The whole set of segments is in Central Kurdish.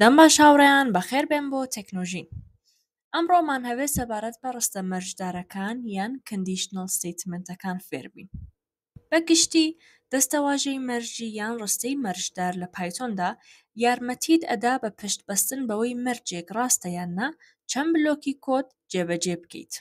دەم باش هاوڕێیان بەخێر بێن بۆ تەکنۆژین ئەمڕۆمان هەوێ سەبارەت بە ڕستە مەرجدارەکان یان کندیشنەڵ ستەیتمنتەکان فێربین بە گشتی دەستەواژەی مەرجی یان ڕستەی مەرجدار لە پایتۆندا یارمەتیت ئەدا بە پشت بەستن بەوەی مەرجێک ڕاستە یان نا چەند بلۆکی کۆد جێبەجێ بکەیت.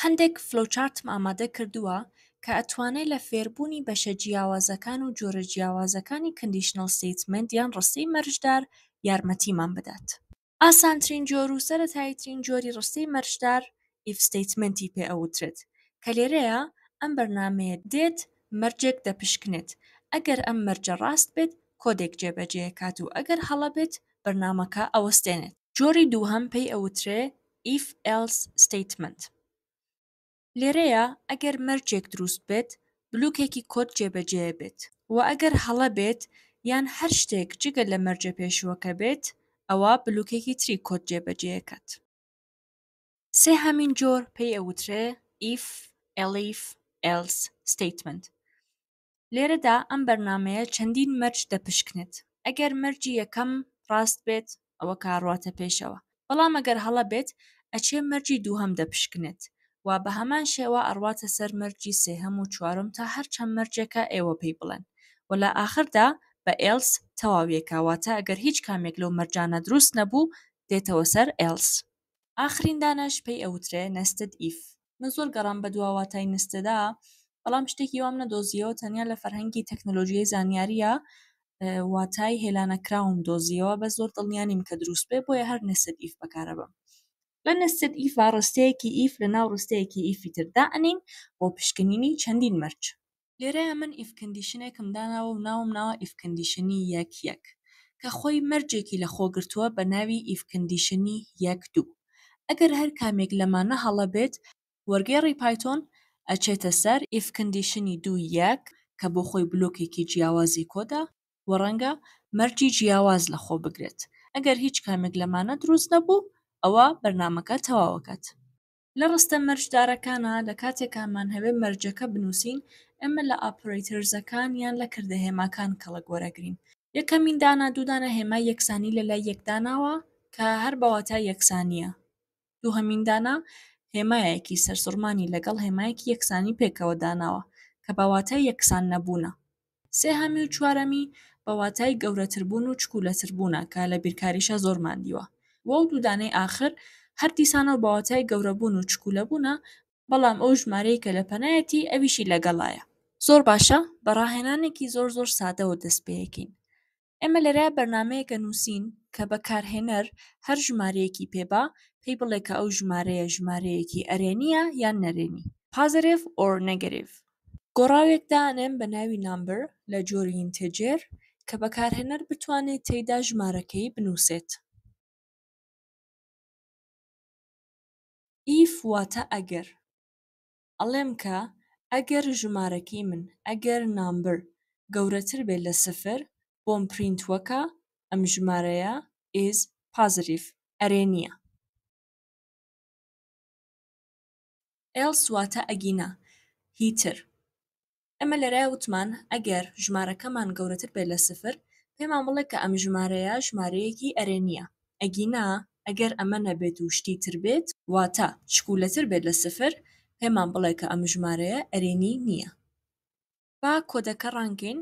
هەندێک فلۆوچارتم ئامادە کردووە کە ئەتوانێ لە فێربوونی بەشە جیاوازەکان و جۆرە جیاوازەکانی کەندیشنەڵ ستەیتمێنت یان ڕستەی مەرجدار یارمەتیمان بدات. ئاسانترین جۆر و سەرەتاییترین جۆری ڕستەی مەرجدار ئیف ستەیتمەنتی پێ ئەوترێت کە لێرەیا ئەم بەرنامەیە دێت مەرجێک دەپشکنێت ئەگەر ئەم مەرجە ڕاست بێت کۆدێک جێبەجێەکات و ئەگەر هەڵە بێت بەرنامەکە ئەوەستێنێت. جۆری دووهەم پێی ئەوترێ ئیف ئێلس ستەیتمەنت لێرەیا ئەگەر مەرجێک دروست بێت بلوکێکی کۆد جێبەجێ بێت وە ئەگەر هەڵە بێت یان هەر شتێک جگە لە مەرجە پێشوەکە بێت ئەوا بلوکێکی تری کۆد جێبەجێ ئەکات. سێهەمین جۆر پێی ئەوترێ If Elif Else Statement لێرەدا ئەم بەرنامەیە چەندین مەرج دەپشکنێت، ئەگەر مەرجی یەکەم ڕاست بێت ئەوە کار ڕواتە پێشەوە، بەڵام ئەگەر هەڵە بێت ئەچێ مەرجی دووهەم دەپشکنێت و بەهەمان شێوە ئەڕواتە سەر مەرجی سێهەم و چوارم تا هەر چەند مەرجێکە ئێوە پێی بڵێن و لە ئاخردا بە ئێلس تەواویەکا واتە ئەگەر هیچ کامێک لەو مەرجانە دروست نەبوو دێتەوە سەر ئێلس. ئاخرین دانەش پێی ئەوترێ نستد ئیف. من زۆر گەڕام بە دوا واتای نستێدا بەڵام شتێکی وام نەدۆزیەوە تەنیا لە فەرهەنگی تەکنەلۆژیای زانیاریە واتای هێلانەکراوم دۆزیەوە بە زۆر دڵنیانیم کە دروست بێ بۆیە هەر نسد ئیف بەکارە بم لە نسد ئیف ڕستەیەکی ئیف لە ناو ڕستەیەکی ئیفی تردا ئەنین بۆ پشکنینی چەندین مەرج لێرەیا من ئیف کندیشنێکم داناوە و ناوم ناوە ئیف کندیشنی یەک یەک کە خۆی مەرجێکی لە خۆ گرتووە بە ناوی ئیف کندیشنی یەک دوو ئەگەر هەر کامێک لەمانە هەڵە بێت وەرگێڕی پایتۆن ئەچێتە سەر ئیف کندیشنی دوو یەک کە بۆ خۆی بلۆکێکی جیاوازی کۆدە و ڕەنگە مەرجی جیاواز لە خۆ بگرێت ئەگەر هیچ کامێک لەمانە دروست نەبوو ئەوا بەرنامەکە تەواو ئەکات. لە ڕستە مەرجدارەکانە لە کاتێکا مانهەوێ مەرجەکە بنووسین، ئێمە لە ئاپرەیترزەکان یان لە کردە هێماکان کەڵک وەرەگرین. یەکەمین دانا دوو دانە هێمای یەکسانی لە لای یەک داناوە کە هەر بە واتای یەکسانییە. دووهەمین دانا هێمایەکی سەرسوڕمانی لەگەڵ هێمایەکی یەکسانی پێکەوە داناوە کە بە واتای یەکسان نەبوونە. سێهەمی و چوارەمی بە واتای گەورەتربوون و چکولەتربوونە کە لە بیرکاریشا زۆرمان دیوە و ئەو دوو دانەی ئاخر هەر دیسانەوە بە واتای گەورەبوون و چکولەبوونە بەڵام ئەو ژمارەیە کە لە پەنایەتی ئەویشی لەگەڵایە. زۆر باشە بە ڕاهێنانێکی زۆر زۆر سادەوە دەست پێ ئەکەین ئێمە لێرە بەرنامەیەکە نووسین کە بەکارهێنەر هەر ژمارەیەکی پێبا پێی بڵێ کە ئەو ژمارەیە ژمارەیەکی ئەرێنیە یان نەرێنی پازەرێڤ ئۆر نەگەریڤ. گۆڕاوێک دانێم بە ناوی نامبر لە جۆری ئینتێجێر کە بەکارهێنەر بتوانێت تێیدا ژمارەکەی بنووسێت. ئیف واتە ئەگەر. ئەڵێم کە ئەگەر ژمارەکەی من ئەگەر نامبر گەورەتر بێت لە سفر بۆم پرینت وەکە ئەم ژمارەیە ئیز پازریڤ ئەرێ نیە ئێڵس واتە ئەگینا هی تر. ئێمە لێرە وتمان ئەگەر ژمارەکەمان گەورەتر بێت لە سفر پێمان بڵێ کە ئەم ژمارەیە ژمارەیەکی ئەرێنییە ئەگینا ئەگەر ئەمە نەبێت و شتی تر بێت واتە پشکوولەتر بێت لە سفر پێمان بڵێ کە ئەم ژمارەیە ئەرێنی نییە. با کۆدەکە ڕانکەین.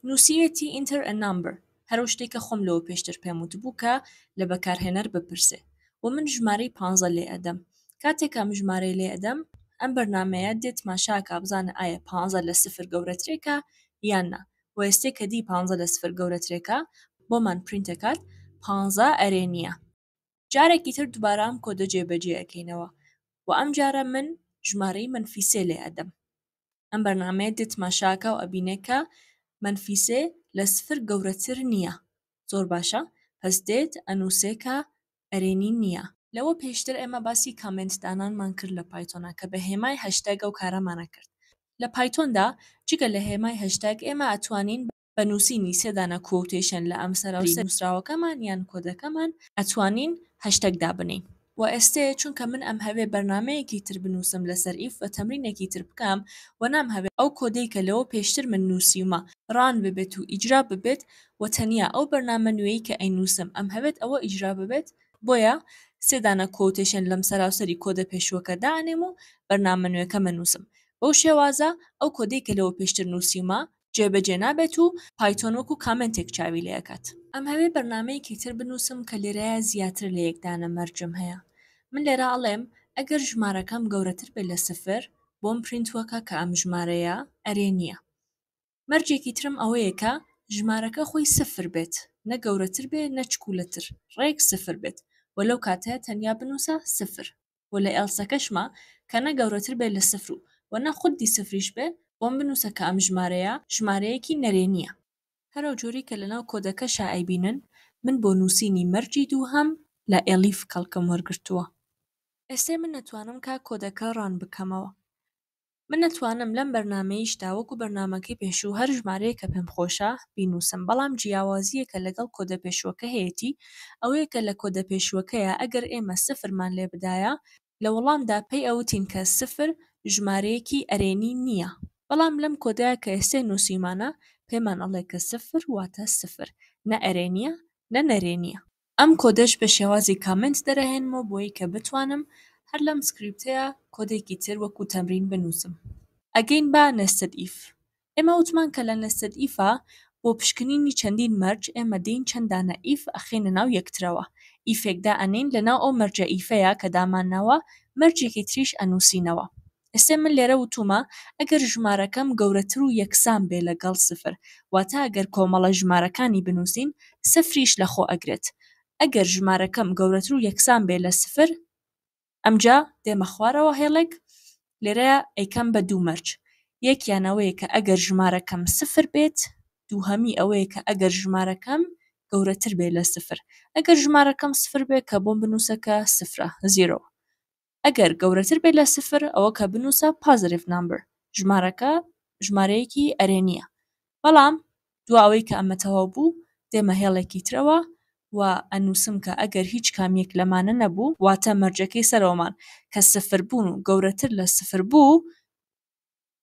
نووسیوێتی Enter a number هەرو شتێک کە خۆم لەوە پێشتر پێم وتبوو کە لە بەکارهێنەر بپرسێ و من ژمارەی پانزە لێ ئەدەم کاتێک ئەم ژمارەی لێ ئەدەم ئەم بەرنامەیە دێ تماشاکا بزانە ئایا پانزە لە سفر گەورەترێکە یان نا و ئێستێ کە دی پانزە لە سفر گەورەترێکە بۆمان پرینت ئەکات پانزە ئەرێ نییە جارێکی تر دوبارە ئەم کۆدە جێ بەجێ ئەکەینەوە وە ئەم جارە من ژمارەی مەنفی سێ لێ ئەدەم ئەم بەرنامەیە دێت تماشاکاو ئەبینێ کە مەنفی سێ لە سفر گەورەتر نیە زۆر باشە پەس دێت ئەنوسێ کە ئەرێنی نیە. لەوە پێشتر ئێمە باسی کامێنت دانانمان کرد لە پایتۆنا کە بە هێمای هەشتەگ ئەو کارەمان ئەکرد لە پایتۆندا جگە لە هێمای هەشتەگ ئێمە ئەتوانین بە. بە نووسینی سێ دانە کوۆتەیشن لە ئەم سەراوسەری نووسراوەکەمان یان کۆدەکەمان ئەتوانین هەشتەگ دابنێین. وە ئێستێ چونکە من ئەمهەوێ بەرنامەیەکی تر بنووسم لەسەر ئیف و تەمرینێکی تر بکەم وە نامهەوێ ئەو کۆدەی کە لەوە پێشتر من نووسیومە ڕان ببێت و ئیجرا ببێت وە تەنیا ئەو بەرنامە نوێیەی کە ئەینووسم ئەمهەوێت ئەوە ئیجرا ببێت بۆیە سێ دانە کوۆتەیشن لەم سەراوسەری کۆدە پێشووەکە دائەنێم و بەرنامە نوێکەم ئەنووسم بەو شێوازە ئەو کۆدەی کە لەوە پێشتر نووسیومە جێبەجێ نابێت و پایتۆن وەکو کامێنتێک چاوی لێ ئەکات. ئەمهەوێ بەرنامەیەکی تر بنووسم کە لێرەیا زیاتر لە یەک دانە مەرجم هەیە من لێرە ئەڵێم ئەگەر ژمارەکەم گەورەتر بێت لە سفر بۆم پرینت وەکە کە ئەم ژمارەیە ئەرێ نییە مەرجێکی ترم ئەوەیە کە ژمارەکە خۆی سفر بێت نە گەورەتر بێ نە چکولەتر ڕێک سفر بێت وە لەو کاتەیە تەنیا بنووسە سفر و لە ئێڵسەکەشما کە نە گەورەتر بێت لە سفر و وە نە خودی سفریش بێت، بۆم بنووسە کە ئەم ژمارەیە ژمارەیەکی نەرێنییە. هەرەو جۆری کە لەناو کۆدەکەشا ئەیبینن، من بۆ نووسینی مەرجی دووهەم لە ئێلیف کەڵکم وەرگرتووە. ئێستێ من ئەتوانم کا کۆدەکە ڕان بکەمەوە. من ئەتوانم لەم بەرنامەیشدا وەکو بەرنامەکەی پێشوو هەر ژمارەیەکە پێم خۆشە بینوسم بەڵام جیاوازیەکە لەگەڵ کۆدە پێشوەکە هەیەتی ئەوەیە کە لە کۆدە پێشوەکەیا ئەگەر ئێمە سفر مان لێ بدایە لە وەڵامدا پێی ئەوتین کە سفر ژمارەیەکی ئەرێنی نیە بەڵام لەم کۆدەیا کە ئێستێ نوسیومانە پێمان ئەڵێ کە سفر واتە سفر نە ئەرێنیە نە نەرێنیە. ئەم کۆدەش بە شێوازی کامنت دەرەهێنمەوە بۆی کە بتوانم هەر لەم سکریپتەیا کۆدێکی تر وەکو تەمرین بنوسم ئەگەین بە نێستد ئیف ئێمە وتمان کە لە نێستد ئیفا بۆ پشکنینی چەندین مەرج ئێمە دێین چەند دانە ئیف ئەخەینە ناو یەکترەوە ئیفێک دا ئەنێین لەناو ئەو مەرجە ئیفەیا کە دامانناوە مەرجێکی تریش ئەنوسینەوە ئێستێ من لێرە وتوومە ئەگەر ژمارەکەم گەورەتر و یەکسان بێ لە گەڵ سفر، واتە ئەگەر کۆمەڵە ژمارەکانی بنووسین، سفریش لە خۆ ئەگرێت. ئەگەر ژمارەکەم گەورەتر و یەکسان بێ لە سفر، ئەمجا دێمە خوارەوە هێڵێک، لێرەیا ئەیکەم بە دوو مەرج، یەکیان ئەوەیە کە ئەگەر ژمارەکەم سفر بێت، دووهەمی ئەوەیە کە ئەگەر ژمارەکەم گەورەتر بێ لە سفر. ئەگەر ژمارەکەم سفر بێ کە بۆم بنووسە کە سفرە، زیرۆ، ئەگەر گەورەتر بێت لە سفر ئەوەکە بنوسە پازەرڤ نامبر ژمارەکە ژمارەیەکی ئەرێنیە بەڵام دوا ئەوەی کە ئەمە تەواو بوو دێمە هێڵێکی ترەوە و ئەنووسم کە ئەگەر هیچ کامیەک لەمانە نەبوو واتە مەرجەکەی سەرەوەمان کە سفر بوون و گەورەتر لە سفر بوو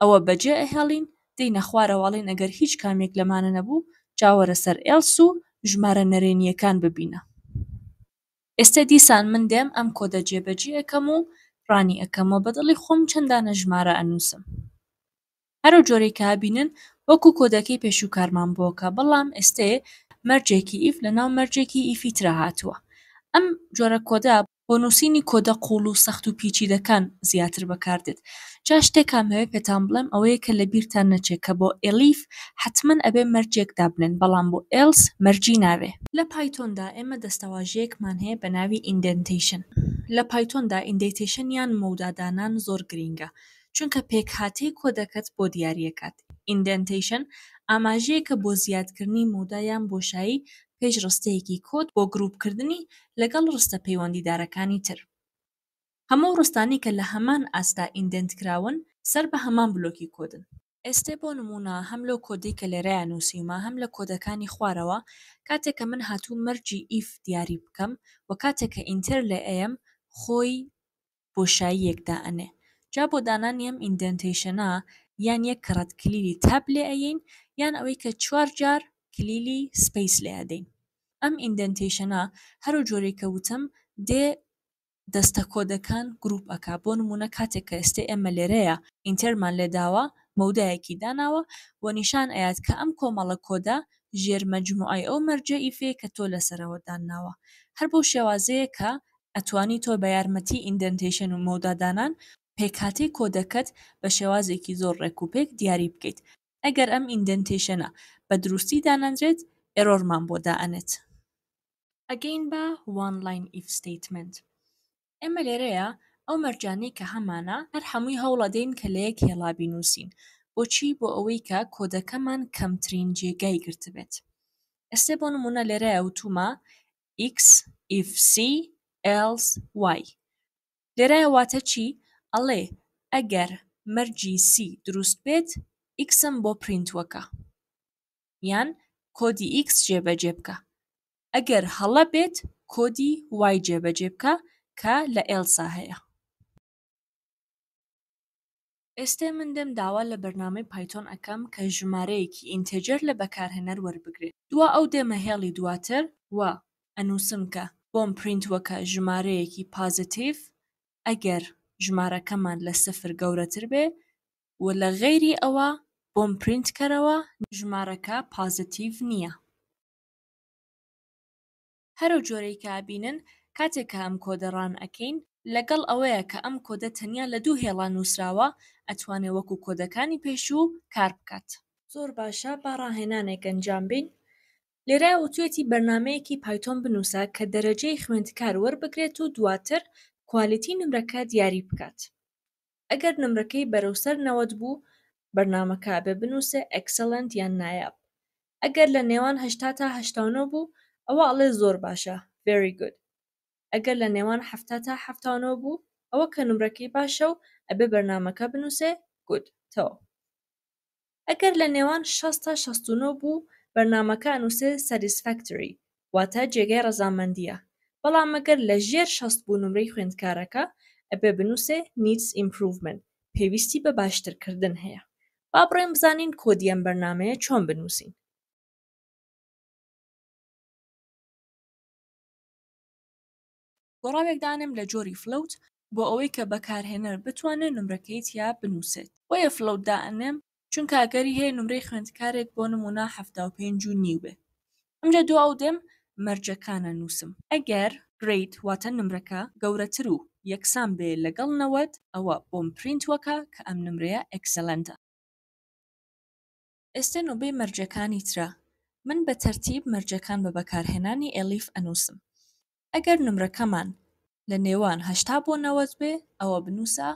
ئەوە بەجێ ئەهێڵین دێینە خوارەوە ئەڵێین ئەگەر هیچ کامێک لەمانە نەبوو جاوەرە سەر ئێڵس و ژمارە نەرێنییەکان ببینە. ئێستە دیسان من دێم ئەم کۆدە جێ بەجی ئەکەم و ڕانی ئەکەم وە بەدڵی خۆم چەند دانە ژمارە ئەنووسم هەرو جۆرەی کە ئەبینن وەکو کۆدەکەی پێشوو کارمان بۆکە بەڵام ئێستێ مەرجێکی ئیف لەناو مەرجێکی ئیفی ترا هاتووە ئەم جۆرە کۆدە بۆ نووسینی کۆدە قووڵ و سەخت و پیچیدەکان زیاتر بەکاردێت. جا شتێک ئەمەوێ پێتان بڵێم ئەوەیە کە لە بیرتان نەچێ کە بۆ ئێلیف حەتمەن ئەبێ مەرجێک دابنێن بەڵام بۆ ئێلس مەرجی نابێ. لە پایتۆندا ئێمە دەستەواژەیەکمان هەیە بە ناوی ئیندێنتەیشن. لە پایتۆندا ئیندێتەیشن یان مەودا دانان زۆر گرینگە چونکە پێکهاتەی کۆدەکەت بۆ دیاریەکات. ئیندێنتەیشن ئاماژەیەکە بۆ زیادکردنی مەودا یان بۆشایی پێش ڕستەیەکی کۆد بۆ گرووپکردنی لەگەڵ ڕستە پەیوەندیدارەکانی تر. هەموو ڕستانەی کە لە هەمان ئاستا ئیندێنت کراون سەر بە هەمان بلۆکی کۆدن. ئێستێ بۆ نموونە هەم لەو کۆدەی کە لێرەیا نووسیومە هەم لە کۆدەکانی خوارەوە کاتێ کە من هاتووم مەرجی ئیف دیاری بکەم و کاتێ کە ئینتێر لێ ئەیەم خۆی بۆشاییەک دائەنێ جا بۆ دانانی ئەم ئیندێنتەیشەنە یان یەک کەڕەت کلیلی تاب لێ ئەیەین یان ئەوەی کە چوار جار کلیلی سپەیس لێ ئەدەین ئەم ئیندێنتەیشەنە هەرو جۆرەی کە وتم دێ دەستە کۆدەکان گروپ ئەکا بۆ نمونە کاتێک کە ئێستێ ئێمە لێرەیە ئینتێرمان لێ داوە مەودایەکی داناوە و نیشان ئەیات کە ئەم کۆمەڵە کۆدە ژێر مەجموعەی ئەو مەرجە ئیفێ کە تۆ لەسەرەوە دانناوە هەر بەو شێوازەیە کە ئەتوانی تۆ بە یارمەتی ئیندەنتەیشن و مەودا دانان پێکهاتەی کۆدەکەت بە شێوازێکی زۆر ڕێک و پێک دیاری بکەیت ئەگەر ئەم ئیندەنتەیشنە بە دروستی دانەنرێت ئێرۆرمان بۆ دائەنێت. ئەگەین بە وان لاین ئیف ستەیتمێنت ئێمە لێرەیا ئەو مەرجانەی کە هەمانە هەر هەمووی هەوڵەدەین کە لەیەک هێڵا بینوسین بۆچی بۆ ئەوەی کە کۆدەکەمان کەمترین جێگای گرتبێت ئێستێ بۆ نمونە لێرەیا وتومە ئیکس ئیف سی ئێلس وای لێرایە واتە چی ئەڵێ ئەگەر مەرجی سی دروست بێت ئیکسم بۆ پرینت وەکە یان کۆدی ئیکس جێبەجێ بکە ئەگەر هەڵە بێت کۆدی وای جێبەجێ بکە کە لە ئێلسا هەیە ئێستێ من دێم داوا لە بەرنامەی پایتۆن ئەکەم کە ژمارەیەکی ئینتێجەر لە بەکارهێنەر وەربگرێ دوا ئەو دێمە هێڵی دواتر و ئەنووسم کە بۆم پرینت وەکە ژمارەیەکی پازتیڤ ئەگەر ژمارەکەمان لە سفر گەورەتر بێ و لە غەیری ئەوە بۆم پرینت کەرەوە ژمارەکە پازتیڤ نییە. هەرەو جۆرەی کە ئەبینن کاتێ کە ئەم کۆدە ڕان ئەکەین لەگەڵ ئەوەیە کە ئەم کۆدە تەنیا لە دوو هێڵا نوسراوە ئەتوانێ وەکو کۆدەکانی پێشوو کار بکات. زۆر باشە با ڕاهێنانێک ئەنجام بین لێرە وتوێتی بەرنامەیەکی پایتۆن بنوسە کە دەرەجەی خوێندکار وەربگرێت و دواتر کوالیتی نمرەکە دیاری بکات. ئەگەر نمرەکەی بەرەو سەر نەوەد بوو بەرنامە کابێ بنوسێ ئێکسەلەنت یان نایاب ئەگەر لە نێوان هەشتا تا هەشتا و نۆ بوو ئەوە ئەڵێ زۆر باشە ڤێری گود ئەگەر لە نێوان حەفتا تا حەفتا و نۆ بوو ئەوە کە نمرەکەی باشە و ئەبێ بەرنامەکە بنوسێ گود تەواو. ئەگەر لە نێوان شەست تا شەست و نۆ بوو بەرنامەکە ئەنوسێ Satisfactory واتە جێگای ڕەزامەندیە بەڵام ئەگەر لە ژێر شەست بوو نمرەی خوێندکارەکە ئەبێ بنوسێ Needs Improvement پێویستی بە باشتر کردن هەیە با بڕۆین بزانین کۆدی ئەم بەرنامەیە چۆن بنوسین. گۆڕاوێک دانێم لە جۆری فلۆوت بۆ ئەوەی کە بەکارهێنەر بتوانێت نمرەکەی تیا بنووسێت. بۆیە فلۆوت دائەنێم چونکە ئەگەری هەیە نمرەی خوێندکارێک بۆ نموونە حەفتا و پێنج و نیو بێ. ئەمجا دوا ئەو دێم مەرجەکان ئەنووسم. ئەگەر Grade واتە نمرەکە گەورەتر و یەکسان بێ لەگەڵ نەوەد ئەوە بۆم پرینت وەکە کە ئەم نمرەیە Excellent ە. ئێستە نۆبەی مەرجەکانی ترە من بە تەرتیب مەرجەکان بە بەکارهێنانی ئێلیف ئەنووسم ئەگەر نمرەکەمان لە نێوان هەشتا بۆ نەوەد بێ ئەوە بنووسە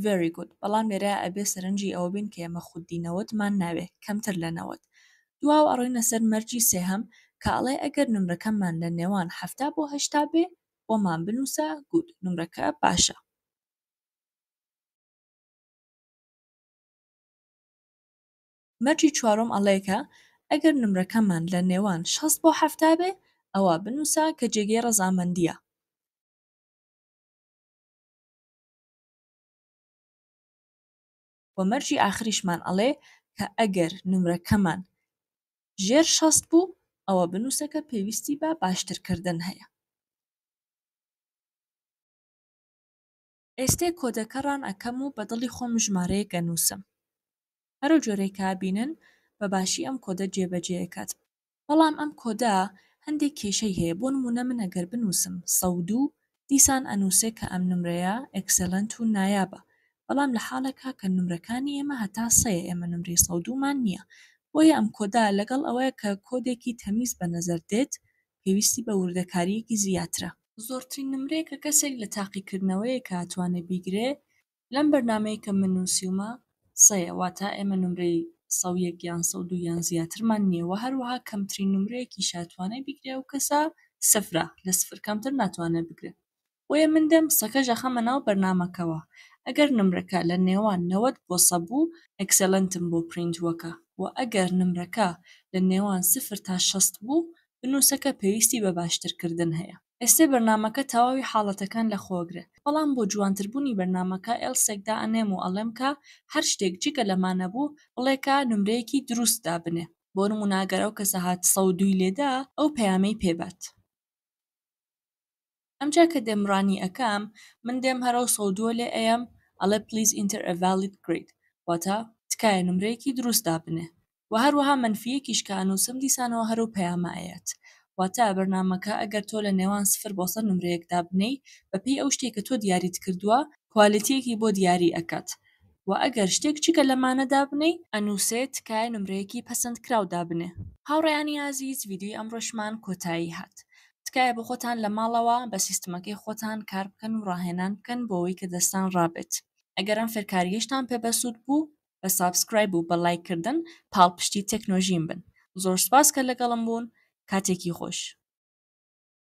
very good بەڵام لێرە ئەبێ سەرنجی ئەوە بین کە ئێمە خودی نەوەدمان ناوێ کەمتر لە نەوەد دواو ئەڕۆینە سەر مەرجی سێهەم کە ئەڵێ ئەگەر نمرەکەمان لە نێوان حەفتا بۆ هەشتا بێ وەمان بنووسە good نمرەکە باشە مەرجی چوارۆم ئەڵێ کە ئەگەر نمرەکەمان لە نێوان شەست بۆ حەفتا بێ ئەوا بنووسە کە جێگەی ڕەزامەندییە. وە مەرجی ئاخریشمان ئەڵێ کە ئەگەر نمرەکەمان ژێر شەست بوو ئەوە بنووسە کە پێویستی بە باشترکردن هەیە. ئێستێ کۆدەکە ڕان ئەکەم و بە دڵی خۆم ژمارەیەک ئەنووسم هەرەو جۆرەی کە ئەبینن بە باشی ئەم کۆدە جێ بە جێ ئەکات بەڵام ئەم کۆدە هەندێک کێشەی هەیە بۆ نموونە من ئەگەر بنووسم سەد و دوو دیسان ئەنووسێ کە ئەم نمرەیە ئێکسێلەنت و نایابە بەڵام لە حاڵێکا کە نمرەکانی ئێمە هەتا سەیە ئێمە نمرەی سەد و دوو مان نییە بۆیە ئەم کۆدە لەگەڵ ئەوەی کە کۆدێکی تەمیز بە نەزەر دێت پێویستی بە وردەکارییەکی زیاترە. زۆرترین نمرەیە کە کەسێک لە تاقیکردنەوەیەکە ئەتوانێ بیگرێ لەم بەرنامەیە کە من نووسیومە سەیە، واتە ئێمە نمرەی سەد و یەک یان سەد و دوو یان زیاترمان نییە و هەروەها کەمترین نمرەیەکیش ئەتوانێ بیگرێ ئەو کەسە سفرە، لە سفر کەمتر ناتوانێ بگرێ. بۆیە من دێم قسەکەش ئەخەمە ناو بەرنامەکەوە ئەگەر نمرەکە لە نێوان نەوەد بۆ سە بوو ئێکسێلنتم بۆ پرینت وەکە وە ئەگەر نمرەکە لە نێوان سفر تا شەست بوو بنوسەکە پێویستی بە باشتر کردن هەیە ئێستێ بەرنامەکە تەواوی حاڵەتەکان لە خۆگرێ بەڵام بۆ جوانتر بونی بەرنامەکە ئێلسێک دا ئەنێم و ئەڵێم کە هەر شتێک جگە لەمە نەبوو بڵێ کە نمرەیەکی دروست دابنێ بۆ نمونە ئەگەر ئەو کەسە هات سەد و دوو ی لێدا ئەو پەیامەی پێ بات. ئەمجا کە دێم ڕانی ئەکەم من دێم هەرەو سەو دووە لێ ئەیەم ئەڵێ پلیز ئینتەر ئە ڤالیت گرید واتە تکایە نمرەیەکی دروست دابنێ وە هەروەها مەنفی یەکیش کە ئەنوسم دیسانەوە هەرەو پەیامە ئەیەت واتە بەرنامەکە ئەگەر تۆ لە نێوان سفر بۆ سەد نمرەیەک دابنێی بە پێی ئەو شتەی کە تۆ دیاریت کردووە کوالیتیەکی بۆ دیاری ئەکات وە ئەگەر شتێک جگە لەمانە دابنێی ئەنوسێ تکایە نمرەیەکی پەسەند کراو دابنێ. هاوڕێیانی ئازیز ڤیدیۆی ئەمڕۆشمان کۆتایی هات تکایە بۆخۆتان لە ماڵەوە بە سیستمەکەی خۆتان کار بکەن و ڕاهێنان بکەن بۆوەی کە دەستان ڕابێت ئەگەر ئەم فێرکاریەشتان پێ بەسود بوو بە سابسکرایب و بە لایک کردن پاڵپشتی تێکنۆژیم بن زۆر سپاس کە لەگەڵم بوون کاتێکی خۆش.